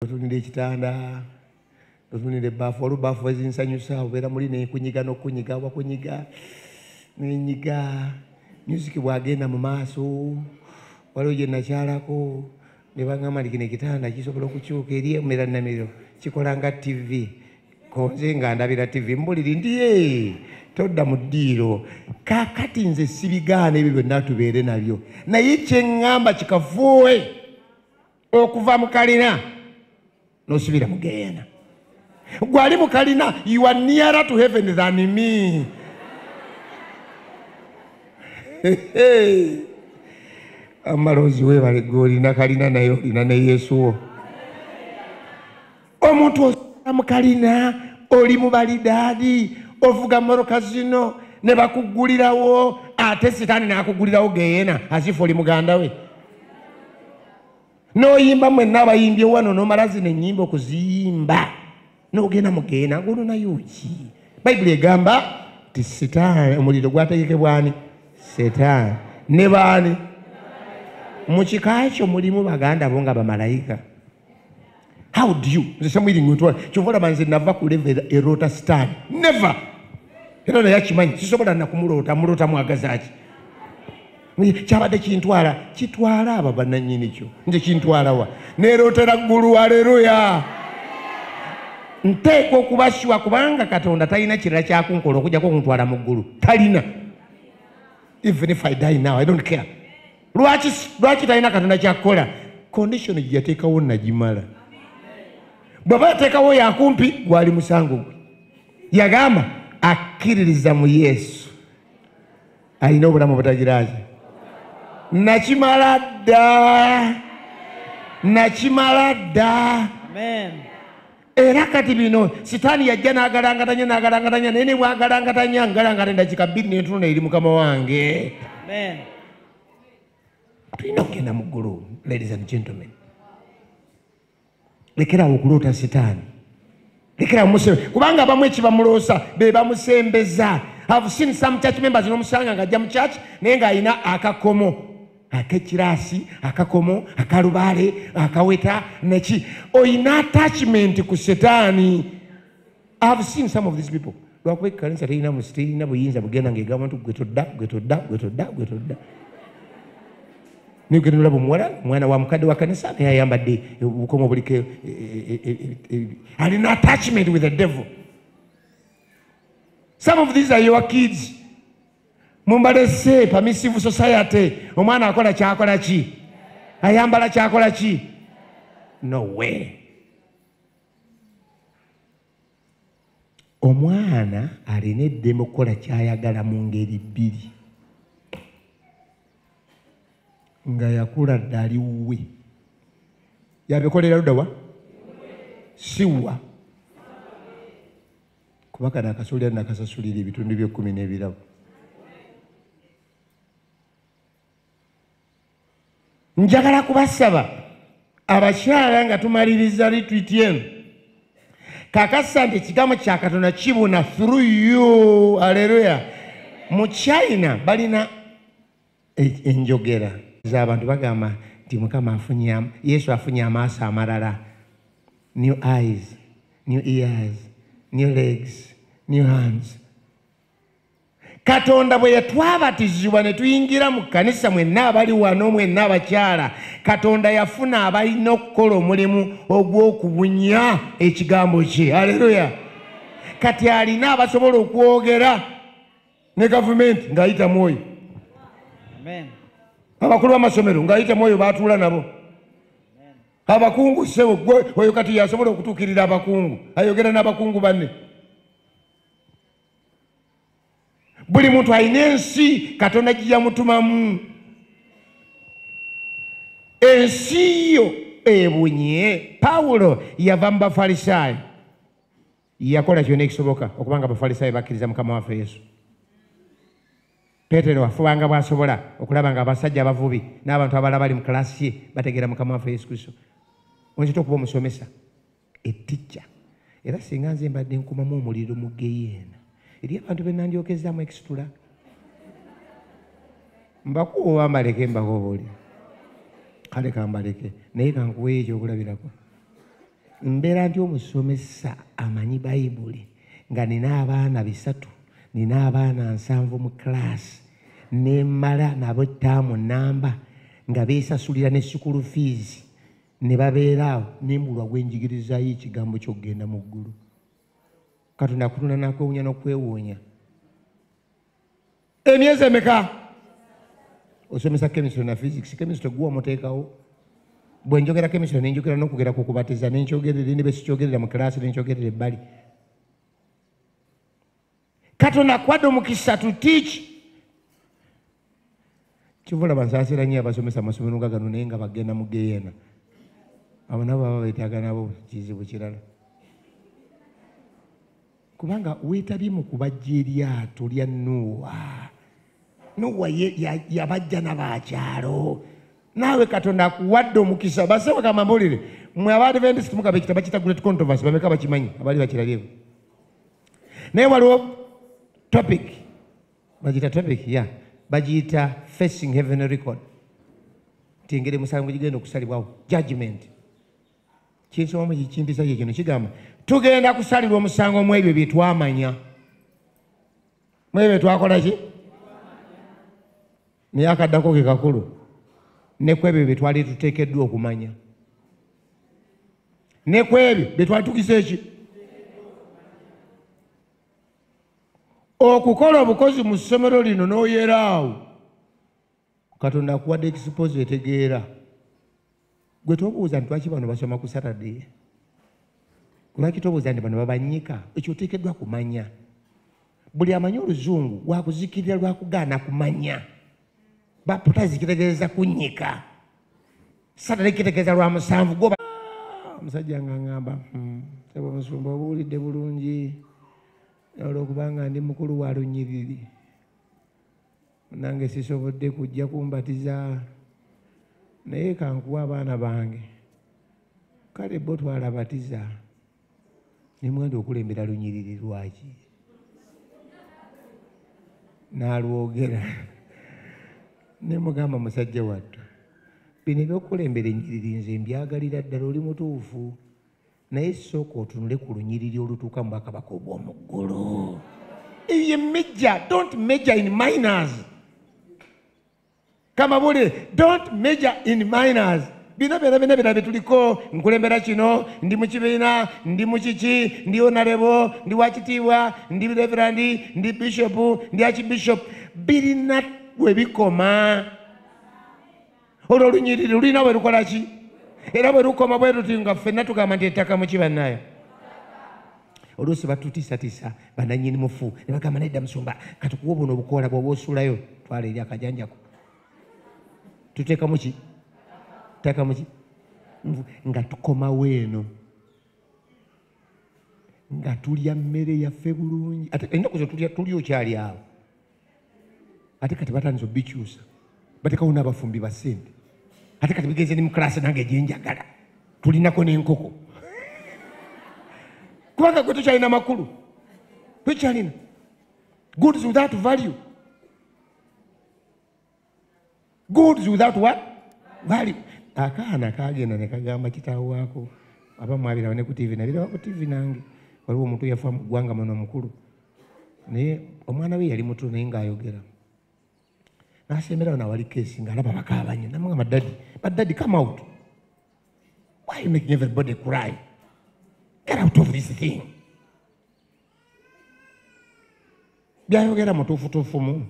otunira ekitanda otunira ebbaafu waliwo baafu ezinsanyusa obeera muli nekunyiga nokunyiga wakunyiga nenyiga music bwagenda mu maaso waliwo gye nakyalako ne bagamba nti kino ekitanda kisobola okukyuka eri emera namiro kikola nga tv konze nga ndabira tv mbuliri ndi todda mu ddiiro kakati nze sibigaana ebyo byonna tubeere nabyo naye kyeŋŋamba kikafuuwe okuva mu kalina nosubira mu geyena gwali mu kalina you are nearer to heaven than me amaloozi webale gwe olina kalina naye olina ne yesu wo omuntu osula mu kalina oli mu balidaadi ovuga moroka zino ne bakuggulirawo ate sitaani n'akuggulirawo geyena azifu oli muganda we n'oyimba mwenna abayimbye wano nomala zino ennyimba okuziyimba n'ogenda mu geyena ngono nayo ki bayibuli egamba ti sitaani omuliro gwategekebwani sitaani ne baani mu kika kyo mulimu baganda bo nga bamalayika how do you nze samwiri ngotwala kyova olaba nze nava ku level eroota sitaani never era naye akimanyi sisobola nakumuloota muloota mwagazaki kyabadde kintwala kitwala aba bananyini kyo nze kintwalawa nerootera ggulu aleluya nteekwa okubasiwa kubanga katonda talina kirala kyakunkola okujjako okuntwala mu ggulu talina even if i die now i don't care lwaki lwaki talina katonda kyakukola condition gyeyateekawo nagimala bwaba yateekawo yakumpi gwali musango gwe yagamba akkiririza mu yesu alina obulamu obutagiraki nakimala dda nakimala dda era kati bino sitaani yajja n'agalangatanya n'agalangatanya naye ne bwagalangatanya ngalangata endakika bbiri n'entuno eri mukama wange tulina okugenda mu ggulu ladies and gentlemen lekerawo okuloota sitaani lekerawo musebe kubanga abamu ekibamuloosa be bamusembeza have seen some church members nomusanga ng'ajja mu church naye ng'alina akakomo akekiraasi akakomo akalubaale akaweta neki oyina attachment ku setaani ihave seen some of these people lwakuba ekanisa terina musi terina buyinza bugenda ngaegamba nti gwe todda gwe todda gwe todda gwe todda nigenda olaba omuwala omwana wa mukadde wa kanisa naye ayambadde obukomo obuliko e, e, e, alina attachment with the devil some of these are your kids mumbalese permissive society omwana akola kyakola ki ayambala kyakola ki no way omwana alina eddembe okukola kyayagala mu ngeri bbiri nga yakula dde ali wuwe yabikolera ludawa siwa kuba kano akasolera nakasasulira ebitundu byekkumi n'ebirabo njagala kubasaba abakyala nga tumaliriza litwiti eno kakasa nti ekigambo kya katonda kibuna through you aleluya mu china balina E- enjogera z'abantu bagamba nti mukama afunye am- yesu afunye amaaso amalala new eyes new ears new legs new hands katonda bwe yatwabatizibwa ne tuyingira mu kkanisa mwenna abali wano mwenna abakyala katonda yafuna abalina okukola omulimu ogw'okubunya ekigambo kye aleluya kati alina abasobola okwogera ne gavumenti ng'ayita mu oyo abakulu b'amasomero ng'ayita mu oyo baatuula nabo abakungu sebo gwe oyo kati yasobola okutuukirira abakungu ayogera n'abakungu banne buli muntu alina ensi katonda giyamutumamu ensi yo ebunye pawulo yava mu bafalisaayo yakola kyona ekisoboka okuba nga abafalisaayo bakkiriza mukama waffe yesu petero afubanga bwasobola okulaba nga abasajja abavubi n'abantu abala bali mu kalasi ye bategeera mukama waffe yesu kristo onzita okuba omusomesa eticca era singa nze mbadde nkumamu omuliro mu geyeena eri abantu benandyokezamu ekisitula mbakuwa obambaleke mbakobooli kale kambaleke naye kankuweyo ekyokulabirako mbeera nti omusomesa amanyi bayibuli nga nina abaana bisatu nina abaana nsanvu mu kiraasi nemala nabo ettaamu namba nga beesasulira ne sukulu fiizi ne babeera awo nembulwa gwenjigirizayo ekigambo kyokugenda mu ggulu katonda kutonda nakwewunya nokwewuunya emyezi emeka osomesa chemistry na physics chemistry guwa muteekawo bwe njogera chemistry ne njogera n'okugera ku kubatiza ne nkyogerera ne besikyogerera mu kiraasi ne nkyogerera ebbali katonda akuwadde omukisa to teach kivula bansaasira nnyo abasomesa amasomero nga gano naye nga bagenda mu geyeena abo nabo baba beetaaga nabo kizibu kirala kubanga weetabye mu kubajja eryato lya nuuwa nuuwa yabajja nabaakyalo naawe katonda akuwadde omukisa basewe kamamulire mwe abaadventist mugaba ekitabo kita great controversy bameka bakimanyi abaali bakirabyeko naye waliwo topic bagiyita topic ya yeah. bagiyita facing heaven record nti engeri musango gigenda okusalibwawo judgment kinsomamu kimpisa kye kino kigamba tugenda kusalirwa omusango mu ebyo bye twamanya mu ebyo twakola ki naye akaddako ke kakulu ne ku ebyo bye twali tuteekeddwa okumanya ne ku ebyo bye twali tukisa eki okukola obukozi mu ssomero lino n'oyeraawo katonda akuwadde ekisipozi etegeera gwe tobuuza nti lwaki bano basoma ku saturday lwaki tobuuza nti bano babanyika ekyo oteekeddwa kumanya buli amanyi oluzungu wakuzikirira lwakugaana kumanya baputazi kitegeeza kunyika saturday kitegeeza lwa musanvu goba ah, omusajja nga ngamba hmm, sebo musumba obuwulidde bulungi olwokubanga ndi mukulu wa lunyiriri nange sisobodde kujja kumbatiza naye kankuwa abaana bange kale bo twalabatiza nemwenda okulembera lunyiriri lwaki nalwogera nemugamba musajja wattu bino ebyokukulembera enyiriri nze mbyagalira ddala oli mutuufu naye sooka otunule ku lunyiriri olutuuka mu bwakabaka obw'omu ggulu eyo ye major don't major in minors kamabulire don't major in minors bino byona byona byona byetuliko nkulembera kino ndi mu kibiina ndi mu kiki ndi onalebo ndi wakitiibwa ndi reverandi ndi bishopu ndi akibishopu birina we bikoma olwo olunyiriri lulina bwe lukola ki era bwe lukoma bwe luti nga ffenna tugamba nti ettaka muki bannaayo oluusi batutiisatiisa bananyini mufu ne bagamba naye dda musumba katukuwa obuno obukoola bwoba osuulayo twala eri akajanjako tuteekamu ki teekamu ki nga tukomawo eno nga tulya mmere yaffe bulungi ate ennaku zo tulya okyali awo ate kati batandise obikyusa batekawo n'abafumbi ba sente ate kati bigenze ne mu kalaasi nange gyenjagala tulinako n'enkoko kubanga gwe tokyalina makulu tokyalina goods without value goods without what value akaana kagenda ne kagamba kitaawo waako aba mwabiraba ne ku tivi nabiraba ku tivi nange waliwo omuntu yafa mu ggwanga muno omukulu naye omwana we yali mutu naye ng'ayogera nasemberawo nawali kesi ng'alaba bakaabanye namuga madadi madadi come out why you making everybody cry get out of this thing byayogera mutuufutuufumu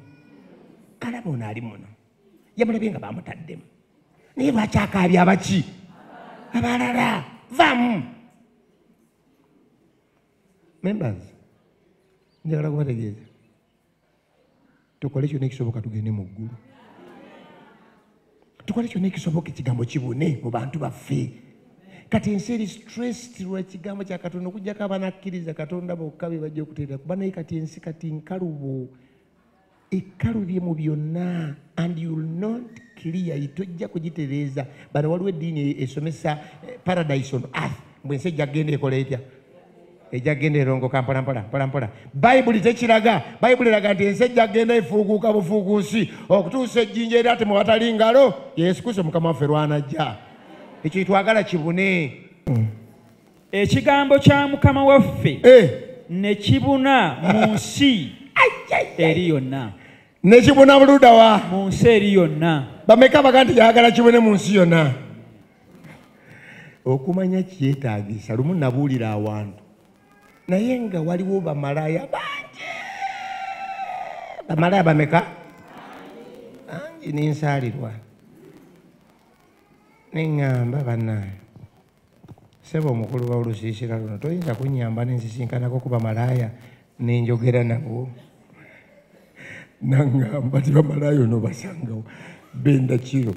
kalaba ono ali muno yamulabye nga bamutaddemu naye lwakyakaabya abaki abalala vamu members njagala kubategeeza tukole kyona ekisoboka tugende mu ggulu tukole kyona ekisoboka ekigambo kibune mu bantu baffe kati ensi eri stressed lwekigambo kya katonda okujjako abaana akkiriza katonda bokka be bajja okuteera kuba naye kati ensi kati nkalubo ekalubye mu byonna and youll not clear tojja kugitereeza bano waliwo eddiini esomesa eh, paradise on earth mbwensi ejja kugenda ekola etya ejja kugenda erongoka mpolampola mpolampola bayibuli tekiraga bayibuli eraga nti ensi ejja kugenda efuuguuka bufuuguusi okutuusa ejjinja era temu watali ngalo yesu kristo mukama waffe lwanajja ekyo twagala kibune ekigambo kya mukama waffe eh. ne kibuna mu nsi eri yonna ne kibuna buludawa mu nsi eri yonna bameka baga nti yagala kibune mu nsi yonna okumanya kyetagisa lumu nabuulira awantu naye nga waliwo bamalaya bangi bamalaya bameka bangi nensaalirwa neŋŋamba banaye sebo omukulu waolusiisira luno toyinza kunyamba nensisinkanako kuba malaaya nenjogera nabo nangamba ti bamalaaya ono basangawo benda kiro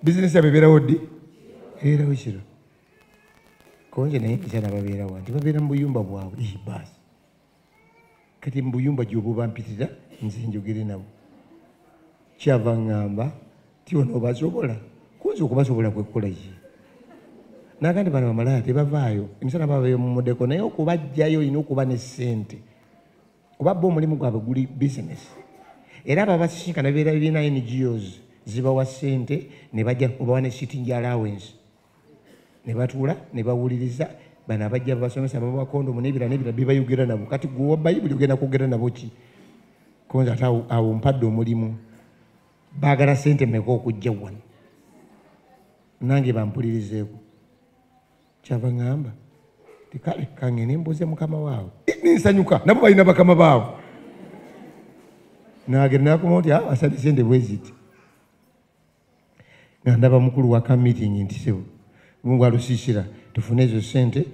bizinesi yabwe ebeerawo ddi ebeerawo kiro konje naye nkyana babeerawo nti babeera mu buyumba bwabwe baasi kati mubuyumba gyobubampitira nze njogere nabo kyava ŋŋamba ti ono obasobola kunza okubasobola kwekkola ki nagandi bano bamalaya tebavaayo emisana baba bemumudeko naye okubajjayo olina okuba ne ssente kuba bo omulimu gwabwe guli bisinesi era babasisinkana beera bibiina ngos zibawa ssente ne bajja obawa ne sitting allowance ne batuula ne bawuliriza bano abajja basomesa baba kondomu nebira nebira bibayogera nabo kati gwe owa bayibuli ogenda kwogera nabo ki konza ate awo mpadde omulimu baagala sente meka okujja wano nange bampulirizeeko kyava ŋamba tikale kange nembuuze mukama waabwe nensanyuka nabo balina bakama baabwe nagenda nakuma nti ah, asabye sente bweziti nga ndaba mukulu wa ka meeting nti sebo mungu alusiisira tufune ezo sente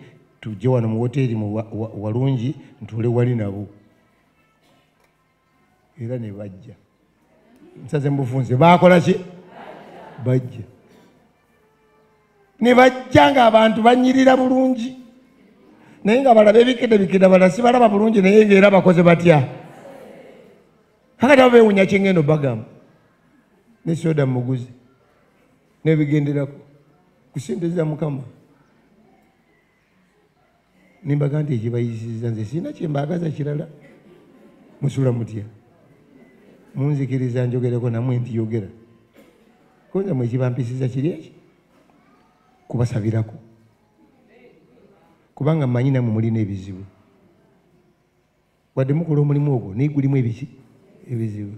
tujje wano mu woteeri mu walungi ntuule wali nabo era ne bajja nsaze mubufunze baakola ki bajja ne bajja ng'abantu banyirira bulungi naye nga balaba ebikedde bikedde balala sibalaba bulungi naye ngaera bakoze batya kakati abo bewunya kyengendo bagamba ne soda muguzi nebigenderako kusinteza mukama nimbaga nti ekibayisiza nze sirina kyembagaza kirala musula mutya munzikiriza njogereko namwe nti yogera koza mwekibampisiza kiri eki kubasabirako kubanga manyi namwe mulina ebizibu wadde mukola omulimu ogwo naye gulimu ebiki ebizibu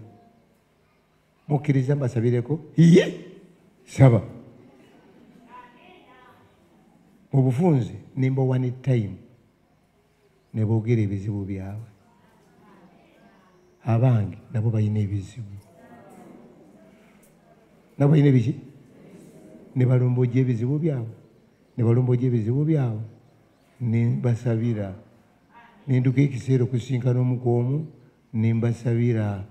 mukkiriza mbasabireko iye saba mu bufunzi nimba one time ne boogera ebizibu byabwe abange nabo balina ebizibu nabo balina ebiki ne balomboja ebizibu byabwe ne balomboja ebizibu byabwe nembasabira nenduka ekiseera okusisinkana omu ku omu nembasabira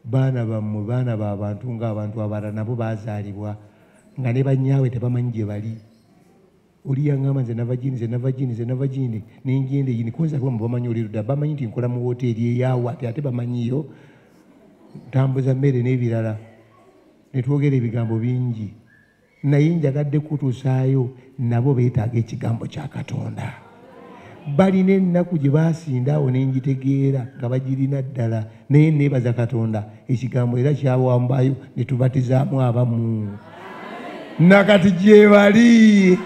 baana bammwe baana ba bantu ngaabantu abalala nabo baazaalibwa nga ne banyaawe tebamanyi gye bali oli yaŋamba nze nava gini nze nava gini nze nava gini nenjenda eyini kunzalwa mu bamanyi oli luda bamanyi nti nkola mu woteeri eyawo ati ate bamanyiyo ntambuza mmere n'ebirala ne twogera ebigambo bingi naye njagadde kutusaayo nabo beetaaga ekigambo kya katonda balina ennaku gye baasinda awo ne ngitegeera nga bagirina ddala naye neebaza katonda ekigambo era kyawambayo ne tubatizaamu abamu nakati gyebali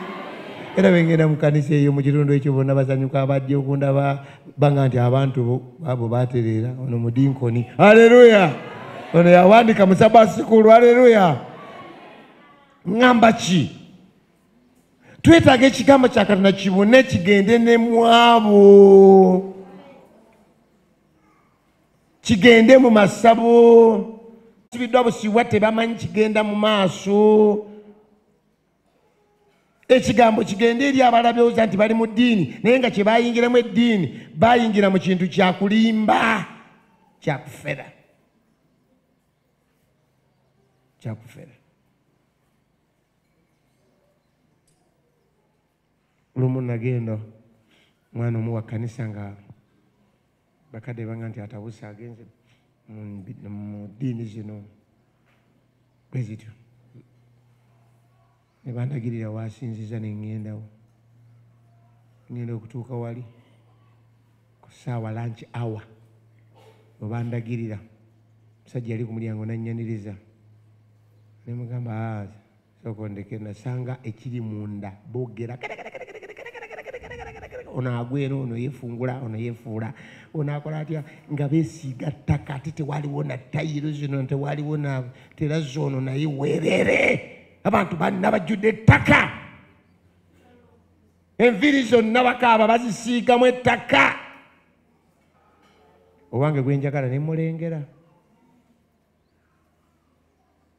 era bengenda mu kanisa eyo mu kitundu ekyo bona basanyuka abajja okundaba banga nti abantu abo batereera ono mudinkoni aleluya ono yawandika musaba sikulu aleluya ŋamba ki twetaaga ekigambo kya katonda kibune kigende ne mwabo kigende mu masabo sibiddwa busibwa tebamanyi kigenda mu maaso ekigambo kigende eri abalabyoza nti bali mu ddiini naye nga kye bayingiramu eddiini bayingira mu kintu kyakulimba kyakufera kyakufera lumu nagenda mwana omu wa kkanisa nga bakadde banga nti atabuse agenze mu ddiini zino bwe zityo ne bandagirira waasinziza ne ŋŋendawo ŋŋenda okutuuka wali ku ssaawa lanki awa we bandagirira omusajja yali ku mulyango nannyaniriza ne mugamba ah, sokondeke nasanga ekiri munda bogera ono agwera ono yefungula ono yefuula ono akola atya nga besiiga ttaka ate tewaliwo na tayiro zino tewaliwo na terazi ono naye werere abantu banna bajjudde ettaka enviri zonna bakaaba bazisiigamu ettaka owange gwenjagala nemulengera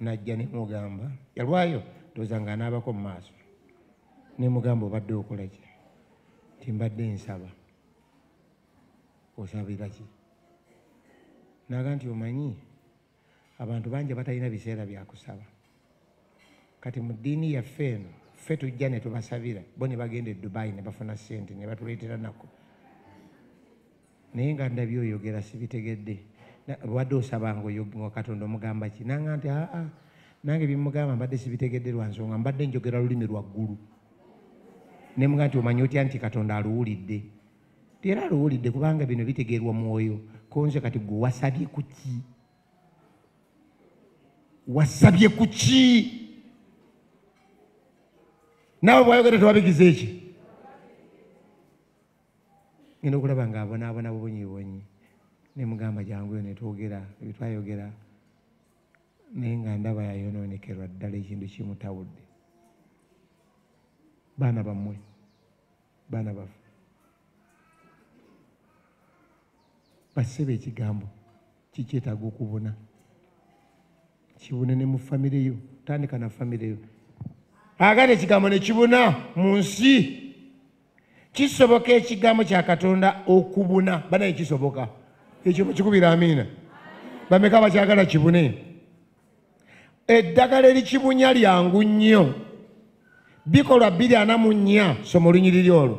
najja nemugamba yalwayo ndoza nga anaabako mu maaso nemugamba obadde okola ki ti mbadde nsaba osabira ki naga nti omanyi abantu bangi batalina biseera byakusaba kati mu ddiini yaffe eno ffe tujja ne tubasabira bo ne bagenda e dubayi ne bafuna ssente ne batuleetera nako naye nga ndabi oyogera sibitegedde lwadde osabanga oyoga katonda omugamba ki nanga nti aa nange bimugamba mbadde sibitegedde lwa nsonga mbadde njogera lulimi lwaggulu ne mga nti omanyi otya nti katonda aluwulidde ti era aluwulidde kubanga bino bitegeerwa mwoyo konze kati gwe wasabye ku ki wasabye ku ki naawe bwayogera tewabigiza eki ngenda okulaba nga abonaabona bubonyibonyi nemugamba jangu yo netwogera ebitwayogera naye nga ndaba yayonoonekerwa ddala ekintu kimutawudde baana bammwe baana baffe basebe ekigambo kikyetaaga okubuna kibune ne mu famire yo tandika na famire yo agala ekigambo ne kibuna mu nsi kisoboka ekigambo kya katonda okubuna banaye kisoboka ekyo mukikubira amiina bameka bakyagala kibune eddagala erikibunya lyangu nnyo bikolwa biri ana mu nnya somo lunyiriri olwo